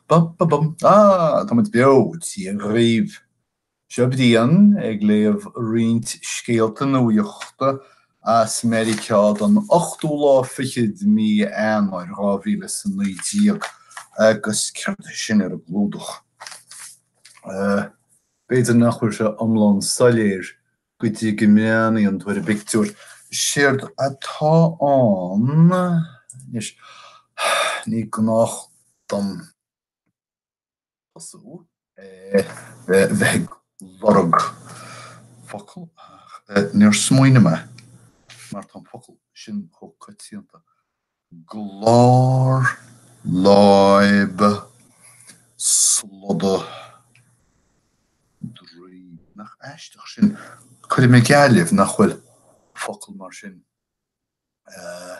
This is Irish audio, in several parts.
Bum ba bum. Ah, táimid beo, Dia dhaoibh. Seo Brian ag léamh roinnt scéalta nuachta as Meiriceá don ochtú lá fichead de mí Eanáir, dhá mhíle is a naoi déag. Agus céard é sin ar an gclúdach? B'fhéidir nach bhfuil sé iomlán soiléir Go dtí go mbreathnaíonn tú ar an bpictiúr, séard atá ann anois, ní gnách dom tosú ar bheith ag lorg focal ach níor smaoinigh mé mar tá an focal sin chomh coitianta. glár láib sloda draoib. Nach aisteach sin? Cuirfidh mé geall libh nach bhfuil focal mar sin ann.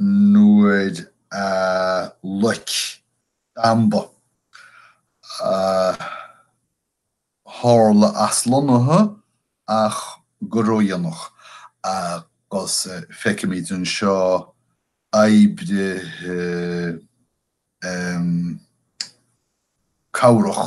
nuair a loic damba a tharla aslonnaithe ach go ródhéanach agus feicimid anseo oibrithe cabhrach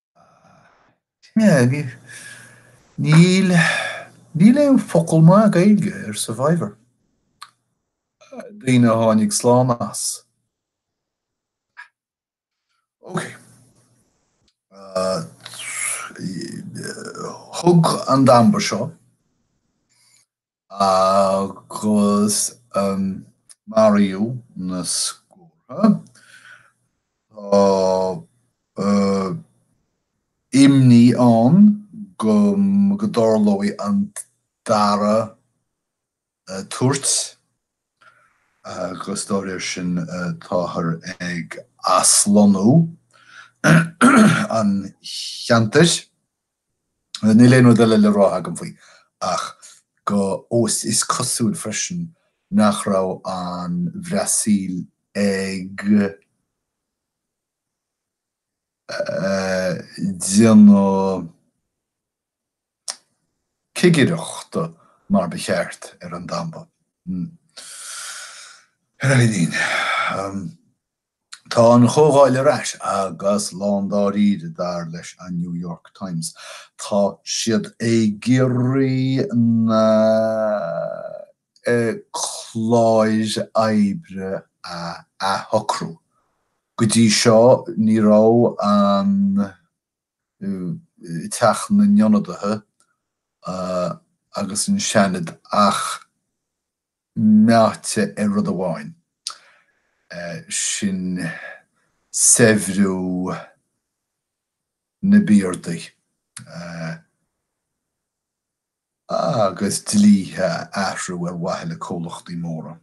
Níl, níl aon focal maith Gaeilge ar survivor. Daoine a tháinig slán as. Ok. Thug an damba seo. Agus maraíodh na scórtha. Tá imní ann go dtarlóidh an dara tuairt agus dá réir sin táthar ag aslonnú an cheantair. Níl aon rud eile le rá agam faoi ach go is cosúil freisin nach raibh an Bhrasaíl ag déanamh cigireacht mar ba cheart ar an damba. Ar aon. Tá an Chomhdháil ar ais agus lándáiríre, dar leis an New York Times. Tá siad ag iarraidh na cláir oibre a athshocrú. Go dtí seo ní raibh Teach na nIonadaithe agus an Seanad ach meáite ar rud amháin, sin saibhriú na bpiardaí agus dlíthe a athrú ar mhaithe le comhlachtaí móra.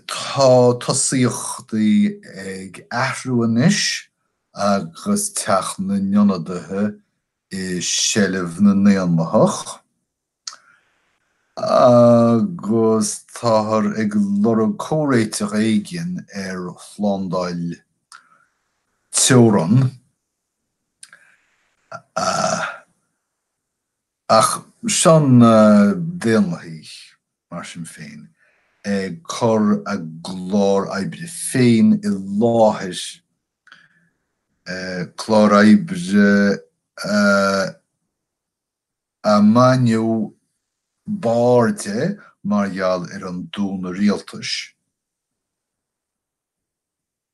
Tá tosaíochtaí ag athrú anois agus Teach na nIonadaithe i seilbh na nDaonlathach. Agus táthar ag lorg comhréiteach éigin ar shlándáil teorann, ach tosóidh na Daonlathaigh, mar sin féin, ag cur a gclár oibre féin i láthair, clár oibre a. ar baineadh barr de mar gheall ar an dúnadh rialtais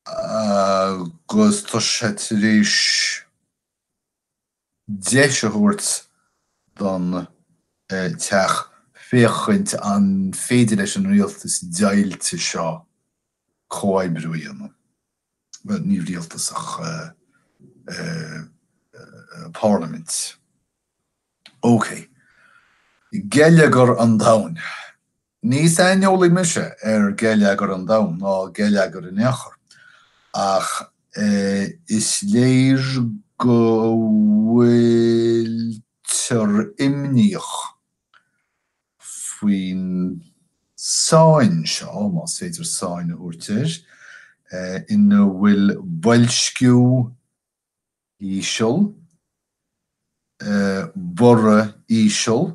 agus tá sé tar éis deis a thabhairt don teach féachaint an féidir leis an rialtas deighilte seo comhoibriú a dhéanamh. bhuel, ní rialtas ach parlaimint, ócé, geilleagar an domhain. Ní saineolaí mise ar gheilleagar an domhain ná geilleagar in aon chor ach is léir go bhfuiltear imníoch. faoin tsáinn seo, más féidir sáinn a thabhairt air, ina bhfuil boilsciú íseal, borradh íseal,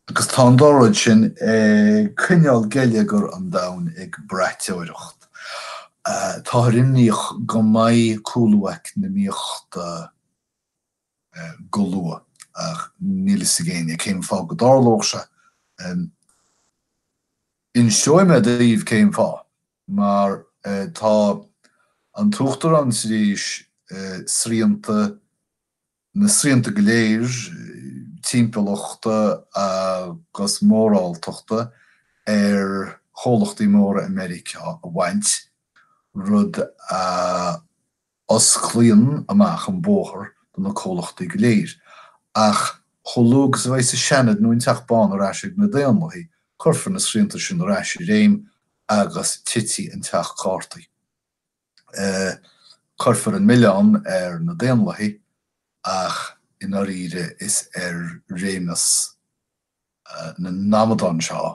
agus tá an dá rud sin ag coinneáil geilleagar an domhain ag braiteoireacht. Táthar imníoch go mbeidh cúlú eacnamaíochta go luath ach níl fhios ag éinne cén fáth go dtarlódh sé. Inseoidh mé daoibh cén fáth, mar tá an tUachtarán tar éis srianta, na srianta go léir timpeallachta agus moráltachta ar chomhlachtaí móra i Meiriceá a bhaint, rud a osclaíonn amach an bóthar do na comhlachtaí go léir, ach chomh luath agus a bheas an Seanad nó an Teach Bán ar ais ag na Daonlathaigh, cuirfear na srianta sin ar ais i réim agus titfidh an teach cártaí. Cuirfear an milleán ar na Daonlathaigh ach i ndáiríre is ar réimeas na n-amadán seo a.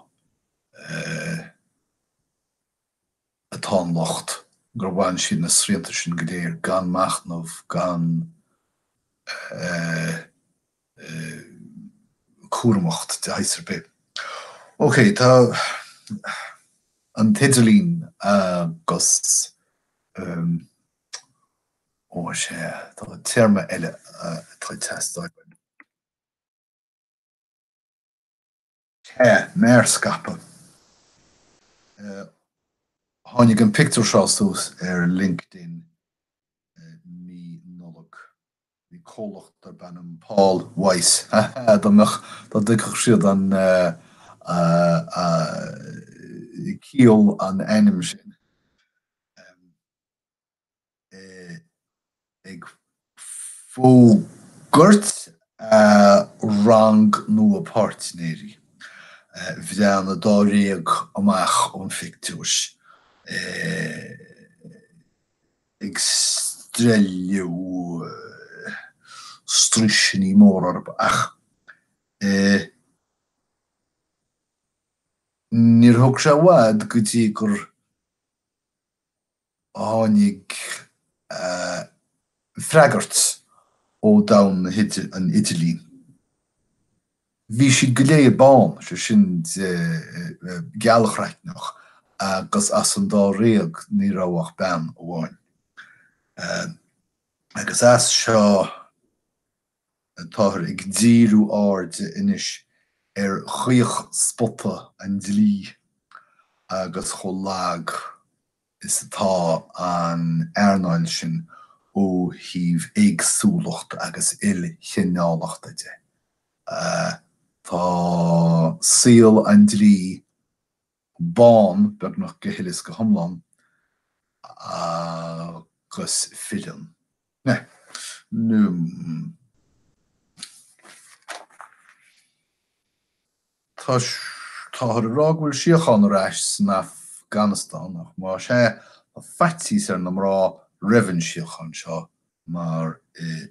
atá an locht, gur bhain siad na srianta sin go léir gan machnamh, gan cúramacht de shaghas ar bith. Ok, tá an t-idirlíon agus, ó sea, tá téarma eile atá ag teastáil uaim. Sea, mearscaipeadh. Tháinig an pictiúr seo suas ar LinkedIn mí Nollag. Bhí comhlacht darb ainm Paul Weiss, ha ha, dá mbeadh, dá dtuigfeadh siad an chiall an ainm sin, ag fógairt a rang nua páirtnéirí bhreathnaigh dáréag amach ón phictiúr ag streilleadh straoiseanna móra orm ach níor thóg sé i bhfad go dtí gur tháinig freagairt ó domhan an idirlín. Bhí siad go léir bán, is é sin de, gealchraicneach agus as an dáréag ní raibh ach bean amháin. Agus as seo. Táthar ag díriú airde anois ar chaochspota an dlí agus chomh lag is atá an earnáil sin ó thaobh éagsúlachta agus ilchineálachta de, tá saol an dlí bán beagnach go huile is go hiomlán agus filleann na Táthar ag rá go bhfuil síocháin ar ais san Afganastáin ach más ea, tá faitíos ar na mná roimh an síocháin seo mar i.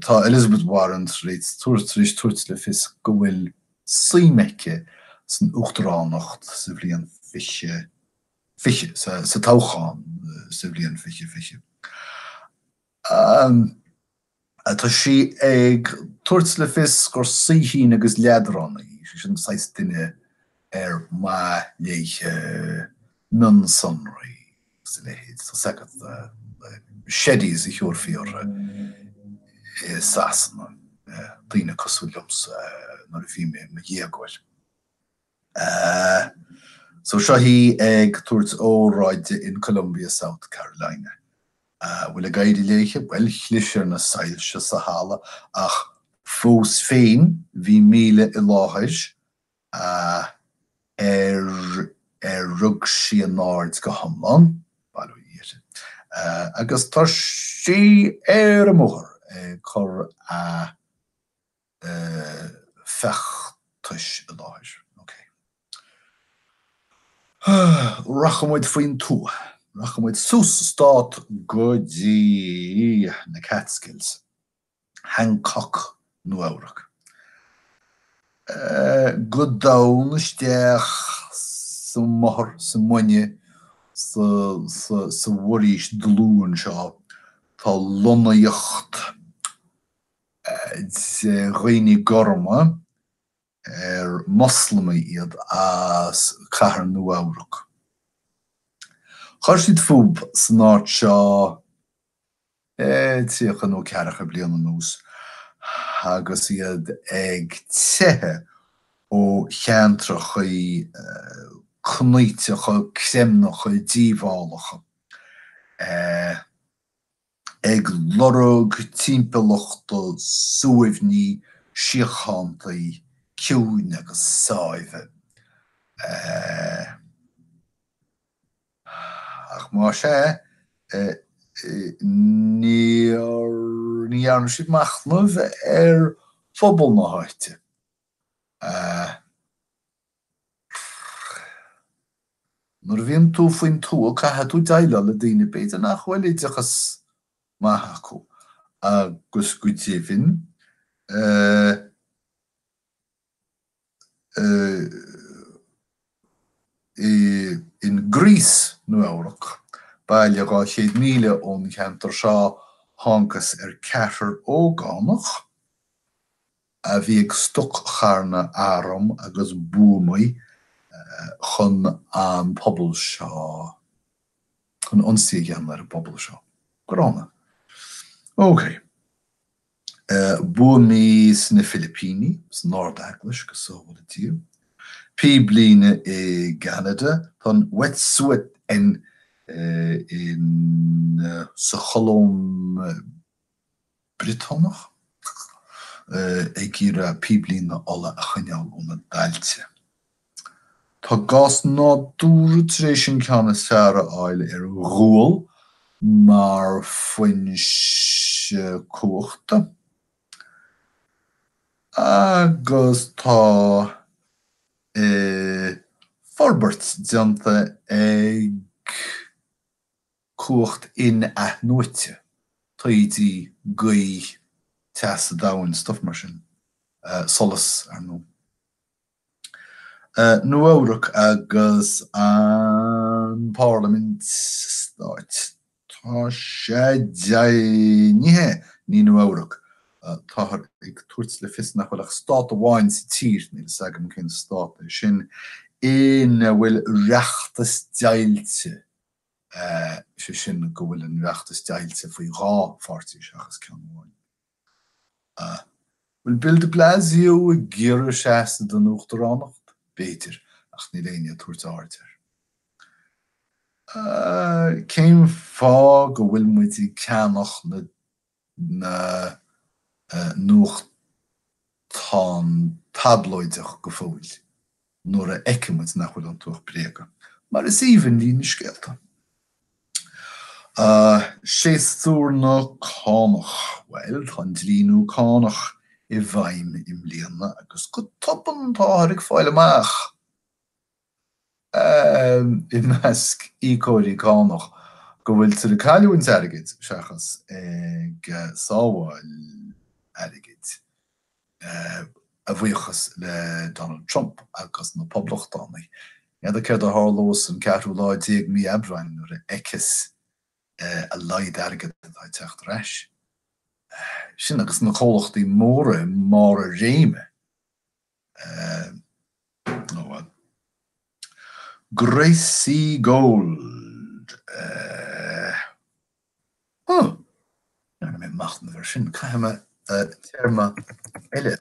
Tá Elizabeth Warren tar éis tabhairt le fios go bhfuil suim aici san uachtaránacht sa bhliain 2020, sa toghchán sa bhliain 2020. Tá sí ag tabhairt le fios gur saoithín agus leadránaí í, sé sin an saghas duine ar maith léithe mionsonraí. agus a leithéid. Tá's agat na Sheddies a thiúrfaí orthu i Sasana, daoine cosúil liomsa, nuair a bhí mé i mo dhéagóir. So seo í ag tabhairt óráide in Columbia, South Carolina. An bhfuil ag éirí léithe? Bhuel, chlis ar na soilse sa halla ach fós féin bhí míle i láthair. a ar ar rug sí a n-aird go hiomlán, bail ó Dhia uirthi, agus tá sí ar an mbóthar ag cur a feachtais i láthair. OK. Rachaidh muid faoin tuath. Rachaidh muid suas sa stát go dtí na Catskills. Hancock, Nua-Eabhrac. Go domhain isteach sa mothar, sa muine, sa bhforaois dlúth anseo tá lonnaíocht de dhaoine gorma, ar Moslamaigh iad as Cathair Nua-Eabhrac. Chuir siad fúthu san áit seo tríocha nó ceathracha bliain anuas agus iad ag teitheadh ó cheantracha cnaíteacha, creimneacha, díobhálacha. ag lorg timpeallachta suaimhní, síochántaí, ciúine agus sáimhe. Ach más ea, níor dhearna siad machnamh ar phobal na háite. Nuair a bhíonn tú faoin tuath caithfidh tú deighleáil le daoine b'fhéidir nach bhfuil oideachas maith acu agus go deimhin in Greece, Nua Eabhrac, baile 200 míle ón cheantar seo, thángthas ar ceathrar ógánach, a bhí ag stoc-charnadh arm agus buamaí chun an pobal seo, chun ionsaí a dhéanamh ar an bpobal seo. Gránna. OK. Buamaí sna Filipíní, san Ard-Eaglais, go sábhála Dia. Píblíne i gCeanada. Tá an Wet'suwet'en sa Cholóim. Briotanach ag iarraidh píblíne ola a choinneáil óna dtailte. Tá gás nádúrtha tar éis an ceann is fearr a fháil ar ghual mar foinse cumhachta agus tá forbairt déanta ag cumhacht in-athnuaite, taoidí, gaoth, teas an domhain, stuff mar sin, solas, ar ndóigh. Nua Eabhrac agus an parlaimint sa stát, tá sé deimhnithe, ní Nua Eabhrac, táthar ag tabhairt le fios nach bhfuil ach stát amháin sa tír, níl fhios agam cén stát é sin, ina bhfuil reachtas deighilte. sé sin go bhfuil an reachtas deighilte faoi dhá pháirtí seachas ceann amháin. An bhfuil Bill de Blasio ag iarraidh seasamh don uachtaránacht? B'fhéidir, ach níl éinne ag tabhairt aird air. Cén fáth go bhfuil muid ag ceannach na na nuachtáin tablóideach go fóill nuair a fheiceann muid nach bhfuil iontu ach bréaga, mar is aoibhinn linn na scéalta. Séasúr na cánach. Bhuel, tá an dlí nua cánach i bhfeidhm i mbliana agus go tobann táthar ag fáil amach. i measc íocóirí cánach go bhfuiltear ag cailliúint airgid seachas ag sábháil airgid, a bhuíochas le Donald Trump agus na Poblachtánaigh. N'fheadar céard a tharlós an ceathrú lá déag mí Aibreáin nuair a fheicfeas a laghad airgid atá ag teacht ar ais. Sin agus na comhlachtaí móra i mbarr a réime. Gracie Gold Huh! Níor dhein mé machnamh air sin. Caithfidh mé téarma eile.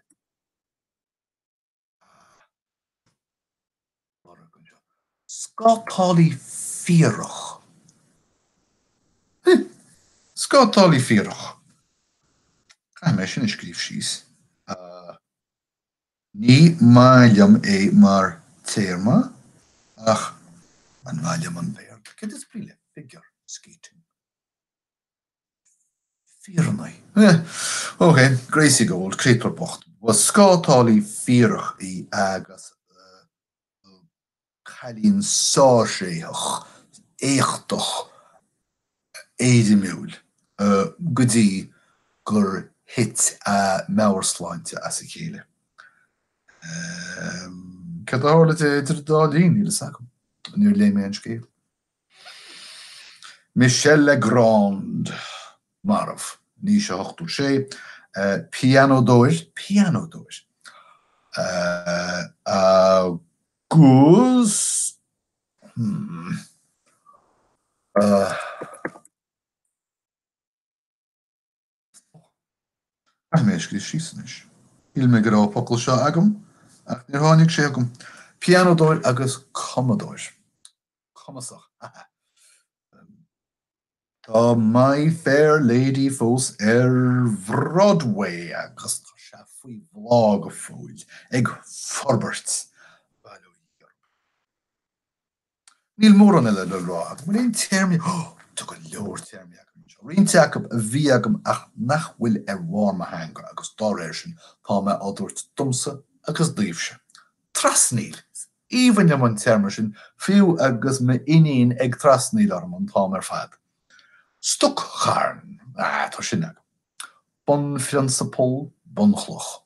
Scátálaí fíorach? Heh. Scátálaí fíorach. Caithfidh mé sin a scríobh síos. Ní maith liom é mar téarma ach an maith liom an Béarla? Céard is brí le figure skating? fírinní. Ok, Gracie Gold, an créatúr bocht, ba scátálaí fíorach í agus cailín sárthréitheach, éachtach, éirimiúil go dtí gur thit a meabhairshláinte as a chéile. Céard a tharla di idir an dá linn, níl a fhios agam. Níor léigh mé an scéal. Michel Legrand, marbh. In aois a hochtó sé, pianódóir, pianódóir, agus, hmm. Stop. Caithfidh mé é a scríobh síos anois. Shíl mé go raibh an focal seo agam ach níor tháinig sé chugam. Pianódóir agus cumadóir cumasach. ha ha Tá My Fair Lady fós ar Bhroadway agus tá sé faoi bhláth go fóill, ag forbairt. Bail ó Dhia orm. Níl mórán eile le rá agam. Bhfuil aon téarmaí? Tá go leor téarmaí agam anseo. Roinnt acu a bhí agam ach nach bhfuil ar bharr mo theanga agus dá réir sin tá mé á dtabhairt domsa agus daoibhse. Trasnaíl. Is aoibhinn liom an téarma sin, fiú agus m'iníon ag trasnaíl orm an t-am ar fad. Stoc-charn. Tá sin agam. Bunphrionsapal, bunchloch.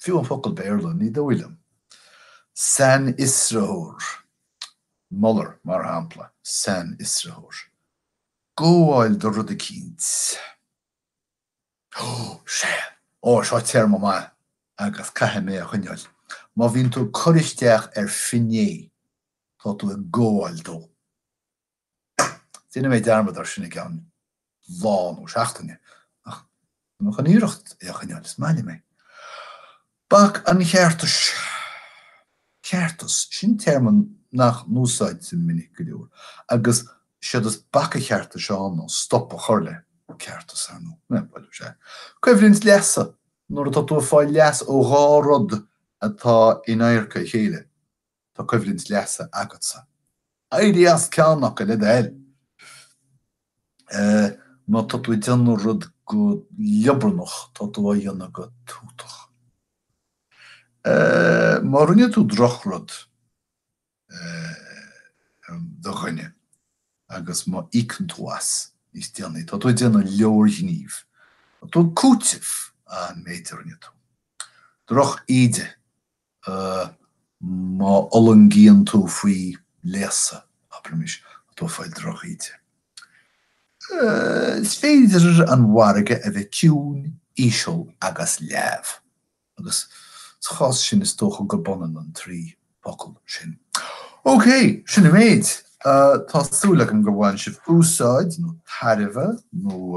fiú an focal Béarla, ní dóigh liom. sainfhiosraitheoir, Mueller, mar shampla, sainfhiosraitheoir. gabháil do rud eicínt. Ó! Sea! Ó, seo téarma maith agus caithfidh mé é a choinneáil. Má bhíonn tú ag cur isteach ar finné, tá tú ag gabháil dó. Déanfaidh mé dearmad air sin i gceann lá nó seachtaine ach tá mé chun iarracht é a choinneáil is maith liom é. Bac an cheartais, ceartas, sin téarma nach n-úsáidtear minic go leor agus séard is bac an cheartais ann nó stop a chur le ceartas thar nó eh bhuel is ea. Coimhlint leasa, nuair atá tú ag fáil leas ó dhá rud atá in adharca a chéile. Tá coimhlint leasa agatsa. Éirigh as ceann acu le do thoil! Má tá tú ag déanamh rud go liobarnach, tá tú á dhéanamh go tútach. Má rinne tú drochrud do dhuine agus má íocann tú as níos déanaí, tá tú ag déanamh leorghníomh. Tá tú ag cúiteamh an méid a rinne tú. Droch-íde. má fhulaingíonn tú faoi léasadh, abraimis, tá tú ag fáil drochíde. Is féidir an margadh a bheith ciúin, íseal agus leamh, agus sa chás sin is dócha gurb ionann an trí fhocal sin. OK, sin an méid. Tá súil agam gur bhain sibh úsáid, nó tairbhe, nó.